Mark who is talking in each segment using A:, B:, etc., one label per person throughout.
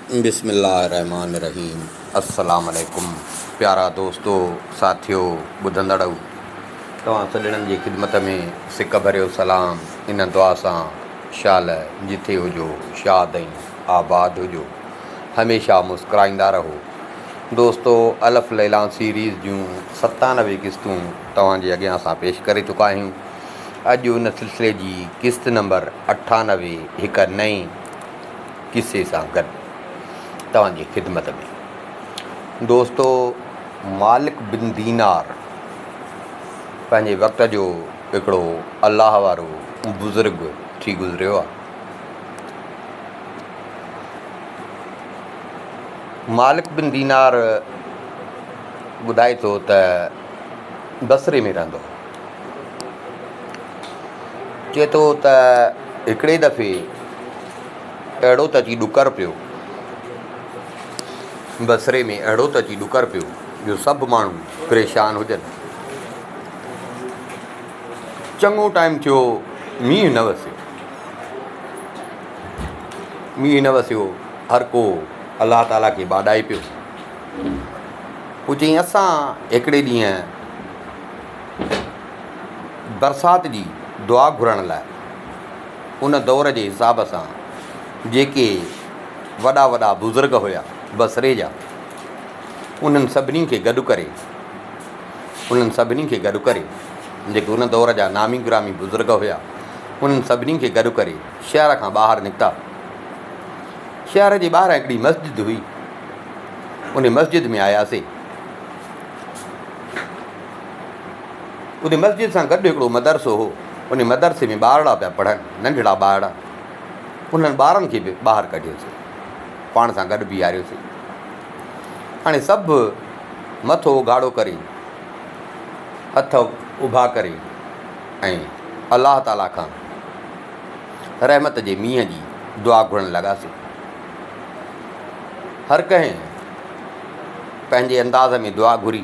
A: بسم الله الرحمٰن الرحيم السلام عليڪم پيارا دوستو ساٿيو ٻڌندڙؤ توهان سڄڻن جي خدمت ۾ سڪ ڀريو سلام ان دعا سان شال جٿي هجو شاد ۽ آباد هجو هميشه مسڪرائيندا رهو دوستو الف ليلا سيريز جون ستانوي قسطون توهان جي اڳيان اسان پيش ڪري چڪا آهيون اڄ ان سلسلي جي قسط نمبر اٺانوي هڪ نئين قصي سان گڏ توهان جي خدمت ۾ دوستو مالڪ بن دينار پنهنجي وقت جو هڪڙو الله وارو بزرگ ٿي گذريو آهي مالڪ بن دينار ٻڌائي ٿو ته بصري ۾ رهندو هو چئي ٿو ته هڪڙي دفعي اهڙو ته اچي ڏڪر پيو. بصري ۾ اهڙو ته اچي ڏڪر پيو جو سڀ ماڻهو پريشان هجن. چڱو ٽائيم ٿيو مينهن نه وسيو. مينهن نه وسيو هر ڪو الله تعاليٰ کي ٻاڏائي پيو. پوء چيائين اسان هڪڙي ڏينهن برسات جي دعا گهرڻ لاء ان دور جي حساب سان جيڪي وڏا وڏا بزرگ هيا بصري جا انهن سڀني کي گڏ ڪري انهن سڀني کي گڏ ڪري جيڪي ان دور جا نامي گرامي بزرگ هيا انهن سڀني کي گڏ ڪري شهر کان ٻاهر نڪتا شهر جي ٻاهر هڪڙي مسجد هئي ان مسجد ۾ آياسي ان مسجد سان گڏ هڪڙو مدرسو هو انهي مدرسي ۾ ٻارڙا پيا پڙهن، ننڍڙا ٻارڙا. انهن ٻارن کي به ٻاهر ڪڍيوسين. پاڻ سان گڏ بيهاريوسين. هاڻي سڀ مٿو اگهاڙو ڪري، هٿ اڀا ڪري ۽ الله تعاليٰ کان رحمت جي مينهن جي دعا گهرڻ لڳاسين. هر ڪنهن پنهنجي انداز ۾ دعا گهري.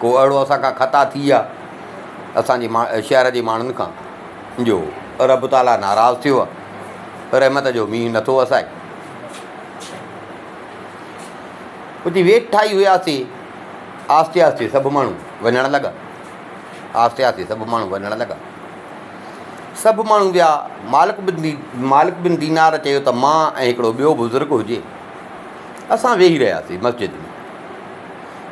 A: ڪو اهڙو اسان کان خطا ٿي يا اسان جي شهر جي ماڻهن کان جو رب تعاليٰ ناراض ٿيو آهي، رحمت جو مينهن نٿو وسائي. اتي ويٺا ئي هياسين، آهستي آهستي سڀ ماڻهو وڃڻ لڳا، آهستي آهستي سڀ ماڻهو وڃڻ لڳا. سڀ ماڻهو ويا، مالڪ بن مالڪ بن دينار چيو ته مان ۽ هڪڙو ٻيو بزرگ هجي، اسان ويهي رهياسين مسجد ۾.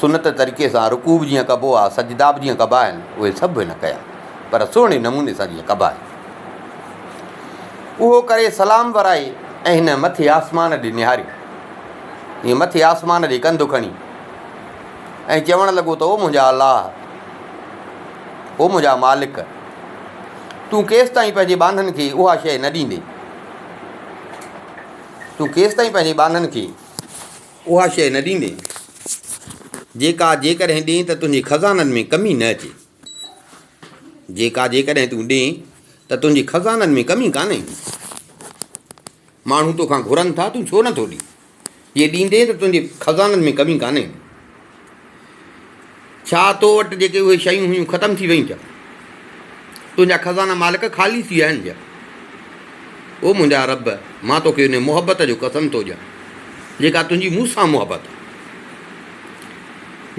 A: سنت طريقي سان رڪوع به جيئن ڪبو آهي، سجدا به جيئن ڪبا آهن، اهي سڀ هن ڪيا، پر سهڻي نموني سان جيئن ڪبا آهن. اهو ڪري سلام ورائي ۽ هن مٿي آسمان ڏي نهاريو. هيء مٿي آسمان ڏي ڪنڌ کڻي ۽ چوڻ لڳو ته او منهنجا الله! او منهنجا مالڪ! تون ڪيستائين پنهنجي ٻانهن کي اها شيء نه ڏيندين؟ تون ڪيستائين پنهنجي ٻانهن کي. اها شيء نه ڏيندين، جيڪا جيڪڏهن ڏئين ته تنهنجي خزانن ۾ ڪمي نه اچي، جيڪا جيڪڏهن تون ڏئين ته تنهنجي خزانن ۾ ڪمي ڪانه ايندي. ماڻهو توکان گهرن ٿا، تون ڇو نٿو ڏين؟ جي ڏيندين ته تنهنجي خزانن ۾ ڪمي ڪانه ايندي. ڇا تو وٽ جيڪي اهي شيون هيون ختم ٿي ويون ڇا؟ تنهنجا خزانا مالڪ خالي ٿي ويا آهن ڇا؟ او منهنجا رب مان توکي ان محبت جو قسم ٿو ڏيان جيڪا تنهنجي مون سان محبت آهي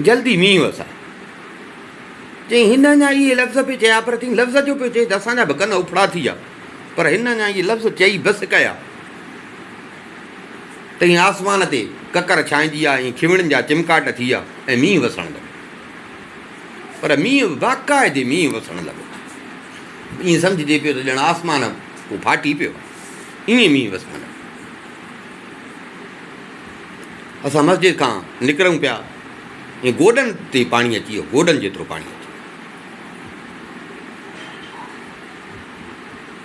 A: جلدي مينهن وسائي چيائين هن اڃا اهي لفظ پي چيا پر چيائين لفظ جو پيو چئي ته اسانجا به ڪن اڦڙا ٿي ويا پر هن اڃا اهي لفظ چئي بس ڪيا تئين آسمان تي ڪڪر ڇانئجي ها ۽ کيوڻين جا چمڪاٽ ٿي ها ۽ مينهن وسڻ لڳو. پر مينهن به باقاعدي مينهن وسڻ لڳو. ائين سمجهجي پيو ته ڄڻ آسمان ڪو ڦاٽي پيو آهي. ائين مينهن وسڻ لڳو. اسان مسجد کان نڪرون پيا ۽ گوڏن تي پاڻي اچي ويو، گوڏن جيترو پاڻي اچي ويو.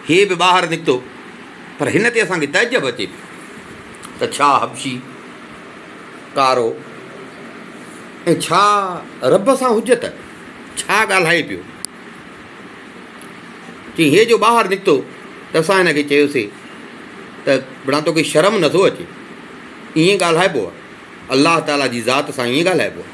A: هي به ٻاهر نڪتو. پر هن تي اسان کي تعجب اچي پيو ته ڇا حبشي، ڪارو ۽ ڇا رب سان حجت ڇا ڳالهائي پيو. چيائين هي جو ٻاهر نڪتو ته اسان هن کي چيوسي ته بڙا توکي شرم نٿو اچي ائين ڳالهائبو آهي الله تعاليٰ جي ذات سان ائين ڳالهائبو آهي.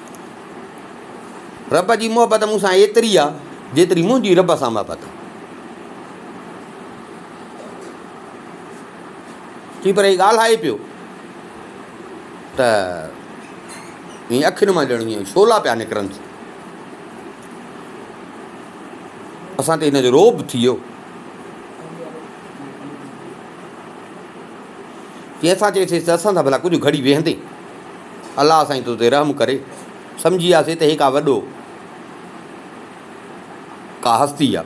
A: رب جي محبت مون سان ايتري آ جيتري منهنجي رب سان محبت آ. چي پر هي ڳالهائي پيو ته ائين اکين مان ڄڻ ائين شولا پيا نڪرن اسان تي هن جو روب ٿي ويو چي اسان چيسي ته اسان سان ڀلا ڪجهه گهڙي ويهندي الله سائين تو تي رحم ڪري سمجهي وياسي ته هي ڪا وڏو ڪا هستي آ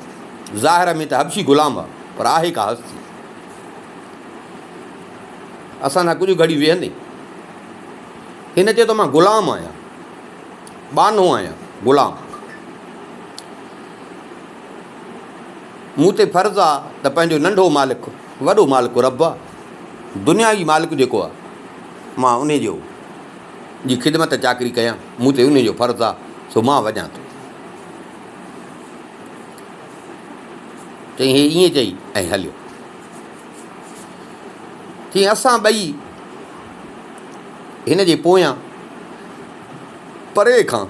A: ظاهر ۾ ته حبشي غلام آ پر آهي ڪا هستي اسان سان ڪجهه گهڙي ويهندي هن چيو ته مان غلام آهيان ٻانهو آهيان غلام مون تي فرض آ ته پنهنجو ننڍو مالڪ وڏو مالڪ رب آ دنيا جي مالڪ جيڪو آ مان انهيء جو جي خدمت ۽ چاڪري ڪيان، مون تي انهيء جو فرض آهي، سو مان وڄان ٿو. چيائين، هي ائين چئي ۽ هليو. چيائين، اسان ٻئي هن جي پويان پري کان،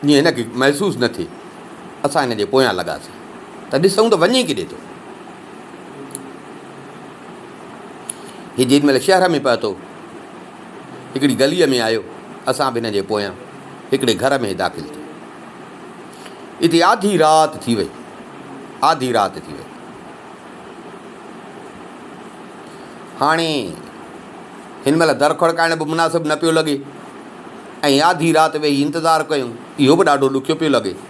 A: جيئن هن کي محسوس نه ٿئي، اسان هن جي پويان لڳاسين ته ڏسون ته وڃي ڪيڏي ٿو. هي جيڏي مهل شهر ۾ پهتو، هڪڙي گليء ۾ آيو، اسان به هن جي پويان هڪڙي گهر ۾ داخل ٿيا. اتي آڌي رات ٿي وئي. آڌي رات ٿي وئي. هاڻي هن مهل در کڙڪائڻ به مناسب نه پيو لڳي ۽ آڌي رات ويهي انتظار ڪيون، اهو به ڏاڍو ڏکيو پيو لڳي.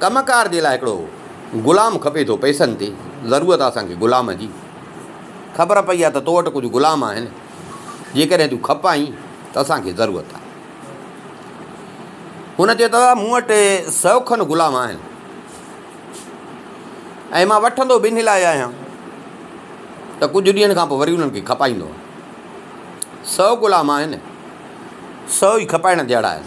A: ڪم ڪار جي لاء هڪڙو غلام کپي ٿو پئسن تي ضرورت آ اسان کي غلام جي خبر پئي آ ته تو وٽ ڪجهه غلام آهن جيڪڏهن تون کپائين ته اسان کي ضرورت آ هن چيو ته مون وٽ سو کن غلام آهن ۽ مان وٺندو ٻنهي لاء آهيان ته ڪجهه ڏينهن کان پوء وري انهن کي کپائيندو سو غلام آهن سو ئي کپائڻ جهڙا آهن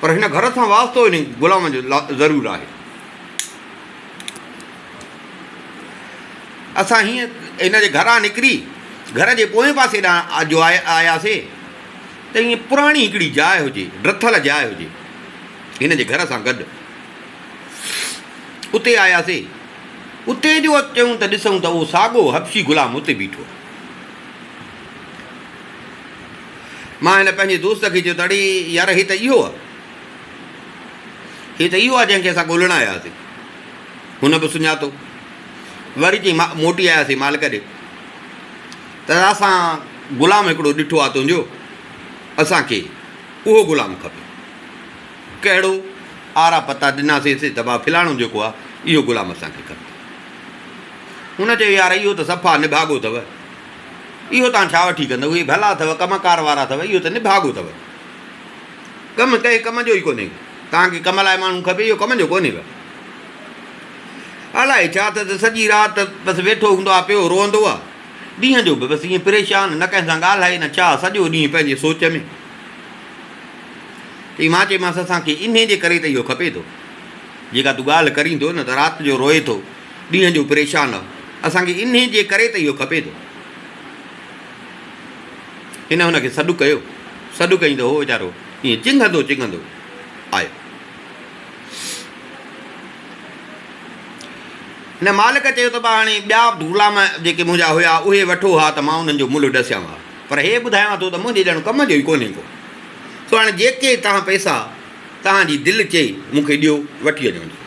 A: پر هن گهر سان واسطو انهي غلام جو ضرور آهي. اسان هيئن هن جي گهران نڪري گهر جي پوئين پاسي ڏانهن جو آياسي ته هيئن پراڻي هڪڙي جاء هجي، ڊٿل جاء هجي، هن جي گهر سان گڏ. اتي آياسي. اتي جو اچيون ته ڏسون ته اهو ساڳو حبشي غلام اتي بيٺو آهي. مان هن پنهنجي دوست کي چيو ته اڙي يار هي ته اهو آهي. هي ته اهو آهي جنهن کي اسان ڳولڻ آيا هئاسين. هن به سڃاتو. وري چيائين مان موٽي آياسين مالڪ ڏي ته اسان غلام هڪڙو ڏٺو آهي تنهنجو اسان کي اهو غلام کپي. ڪهڙو؟ آرا پتا ڏناسينس ته ڀاء فلاڻو جيڪو آهي اهو غلام اسان کي کپي. هن چيو يار اهو ته صفا نڀاڳو اٿو. اهو تان ڇا وٺي ڪندؤ، اهي ڀلا اٿو، ڪم ڪار وارا اٿو، اهو ته نڀاڳو اٿو. ڪم ڪنهن ڪم جو ئي ڪونهي. تان کي ڪم لاء ماڻهو کپي، اهو ڪم جو ڪونهي ڪا. الائي ڇا ته ته سڄي رات بس ويٺو هوندو آ، پيو روئندو آ. ڏينهن جو به بس ائين پريشان، نه ڪنهن سان ڳالهائي نه ڇا، سڄو ڏينهن پنهنجي سوچ ۾. تي مان چيمانس اسان کي انهي جي ڪري ته اهو کپي ٿو. جيڪا تون ڳالهه ڪرين ٿو نه ته رات جو روئي ٿو. ڏينهن جو پريشان آهو. اسان کي انهيء جي ڪري ته اهو کپي ٿو. هن هن کي سڏ ڪيو. سڏ ڪيائين ته هو ويچارو ائين چنگهندو چنگهندو آيو. هن مالڪ چيو ته ٻا هاڻي ٻيا غلام جيڪي منهنجا هيا اهي وٺو ها ته مان انهن جو ملهه ڏسيان ها. پر هي ٻڌايان ٿو ته منهنجي ڄڻ ڪم جو ئي ڪونهي ڪو. سو هاڻي جيڪي توهان پئسا توهان جي دل چئي مون کي ڏيو، وٺي وڃو انهن کي.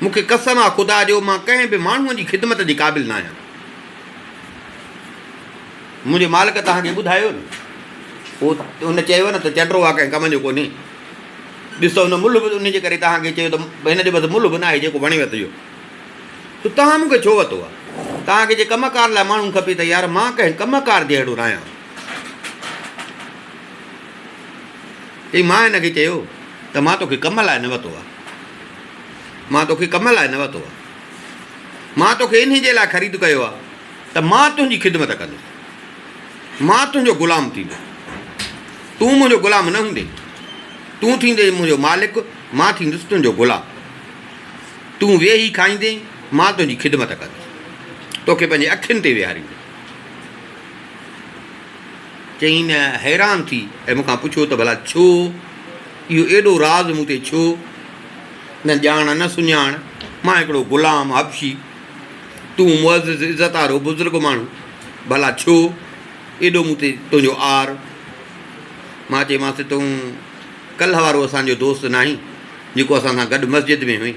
A: مون کي قسم آ خدا جو مان ڪنهن به ماڻهوء جي خدمت جي قابل ناهيان. منهنجي مالڪ توهان کي ٻڌايو نه. پوء هن چيو نه ته چنڊرو آ ڪنهن ڪم جو ڪونهي. ڏسو هن ملهه به ان جي ڪري توهان کي چيو ته هن جو بس ملهه به ناهي جيڪو وڻيو اٿيو. ته توهان مون کي ڇو وتو آ؟ توهان کي جي ڪم ڪار لاء ماڻهو کپي ته يار مان ڪنهن ڪم ڪار جهڙو ناهيان. چي مان هن کي چيو ته مان توکي ڪم لاء نه وتو آهي مان توکي ڪم لاء نه وتو آهي مان توکي انهي جي لاء خريد ڪيو آهي ته مان تنهنجي خدمت ڪندس مان تنهنجو غلام ٿيندس تون منهنجو غلام نه هوندي تون ٿيندي منهنجو مالڪ مان ٿيندس تنهنجو غلام تون ويهي کائيندي مان تنهنجي خدمت ڪندس توکي پنهنجي اکين تي ويهاريندس چيائين حيران ٿي ۽ مون کان پڇيو ته ڀلا ڇو؟ اهو ايڏو راز مون تي ڇو؟ نه ڄاڻ نه سڃاڻ، مان هڪڙو غلام حبشي، تون معزز عزت وارو بزرگ ماڻهو، ڀلا ڇو ايڏو مون تي تنهنجو عار؟ مان چيمانس تون ڪلهه وارو اسان جو دوست ناهين جيڪو اسان سان گڏ مسجد ۾ هئين؟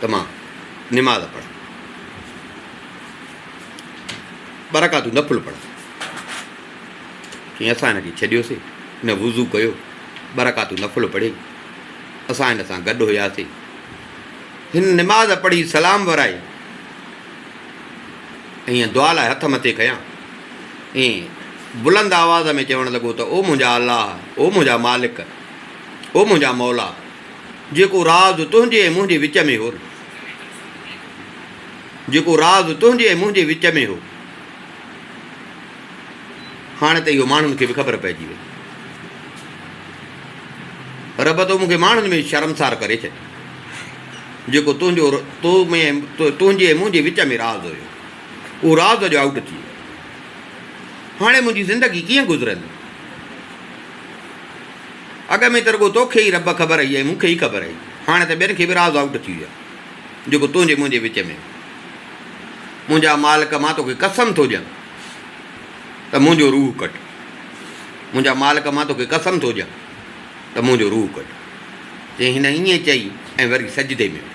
A: ته مان نماز پڙهان، ٻه رڪعتون نفل پڙهان. چيائين اسان هن کي ڇڏيوسي، هن وضو ڪيو، ٻه رڪعتون نفل پڙهي، اسان هن سان گڏ هياسي، هن نماز پڙهي سلام ورائي ۽ دعا لاء هٿ مٿي ڪيا ۽ بلند آواز ۾ چوڻ لڳو ته او منهنجا الله، او منهنجا مالڪ، او منهنجا مولا! جيڪو راز تنهنجي ۽ منهنجي وچ ۾ هو جيڪو راز تنهنجي ۽ منهنجي وچ ۾ هو هاڻي ته اهو ماڻهن کي به خبر پئجي وئي رب تو مونکي ماڻهن ۾ شرمسار ڪري ڇڏي جيڪو تنهنجو تو ۾ تنهنجي ۽ منهنجي وچ ۾ راز هيو اهو راز جو آؤٽ ٿي ويو هاڻي منهنجي زندگي ڪيئن گذرندي اڳ ۾ ته رڳو توکي ئي رب خبر هئي ۽ مون کي ئي خبر هئي. هاڻي ته ٻين کي به راز آئوٽ ٿي ويو آهي، جيڪو تنهنجي منهنجي وچ ۾ هو. منهنجا مالڪ مان توکي قسم ٿو ڏيان ته منهنجو روح ڪڍ. منهنجا مالڪ مان توکي قسم ٿو ڏيان ته منهنجو روح ڪڍ. تنهن هن ائين چئي ۽ وري سجدي ۾ ويو.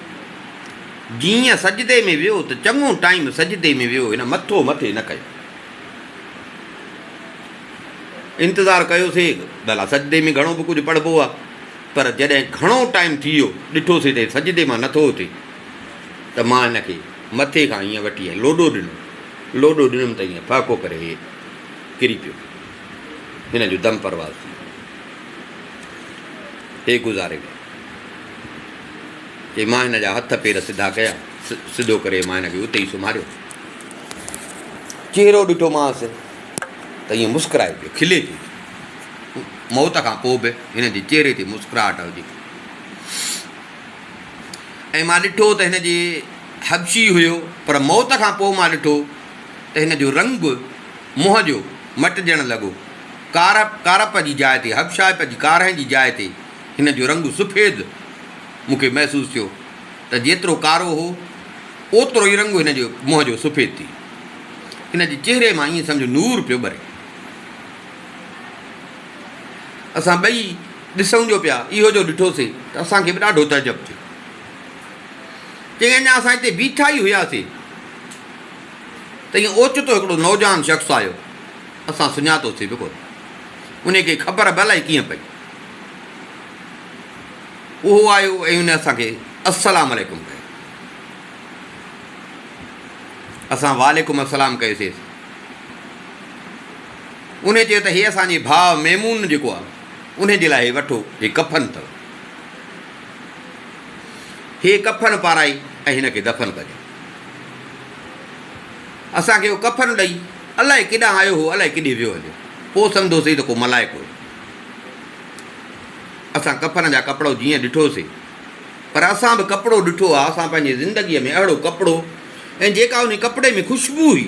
A: جيئن سجدي ۾ ويو ته چڱو ٽائيم سجدي ۾ ويو هن مٿو مٿي نه ڪيو. انتظار ڪيوسي، ڀلا سجدي ۾ گهڻو به ڪجهه پڙهبو آهي، پر جڏهن گهڻو ٽائيم ٿي ويو، ڏٺوسي ته هي سجدي مان نٿو اٿي، ته مان هن کي مٿي کان ائين وٺي ائين لوڏو ڏنو، لوڏو ڏنم ته ائين ڦهڪو ڪري هي ڪري پيو، هن جو دم پرواز ٿي ويو، هي گذاري ويو، چي مان هن جا هٿ پير سڌا ڪيا، سڌو ڪري مان هن کي اتي ئي سمهاريو، چهرو ڏٺومانس. ته ائين مسڪرائي پيو، کلي پيو. موت کان پوء به هن جي چهري تي مسڪراهٽ هجي ٿي. ۽ مان ڏٺو ته هن جي حبشي هيو، پر موت کان پوء مان ڏٺو ته هن جو رنگ منهن جو مٽجڻ لڳو. ڪارپ، ڪارپ جي جاء تي، حبشائپ جي ڪارهن جي جاء تي هن جو رنگ سفيد مون کي محسوس ٿيو. ته جيترو ڪارو هو، اوترو ئي رنگ هن جي منهن جو سفيد ٿي ويو. هن جي چهري مان ائين سمجهه نور پيو ٻري. اسان ٻئي ڏسون جو پيا، اهو جو ڏٺوسين ته اسان کي به ڏاڍو تعجب ٿيو. چيائين، اڃا اسان هتي بيٺا ئي هياسين ته ائين اوچتو هڪڙو نوجوان شخص آيو، اسان سڃاتوسين به ڪونه. انهي کي خبر به الائي ڪيئن پئي. اهو آيو ۽ ان اسان کي السلام عليڪم ڪيو. اسان وعليڪم السلام ڪيوسيس. انهي چيو ته هي اسان جي ڀاء ميمون جيڪو آهي انهي جي لاء هي وٺو هي ڪفن اٿو. هي ڪفن پارائي ۽ هن کي دفن ڪجو. اسان کي اهو ڪفن ڏئي الائي ڪيڏانهن آيو هو الائي ڪيڏي ويو هليو. پوء سمجهوسين ته ڪو ملائڪ هو. اسان ڪفن جا ڪپڙو جيئن ڏٺو سي پر اسان به ڪپڙو ڏٺو آ اسان پنهنجي زندگي ۾ اهڙو ڪپڙو ۽ جيڪا انهي ڪپڙي ۾ خوشبو هئي.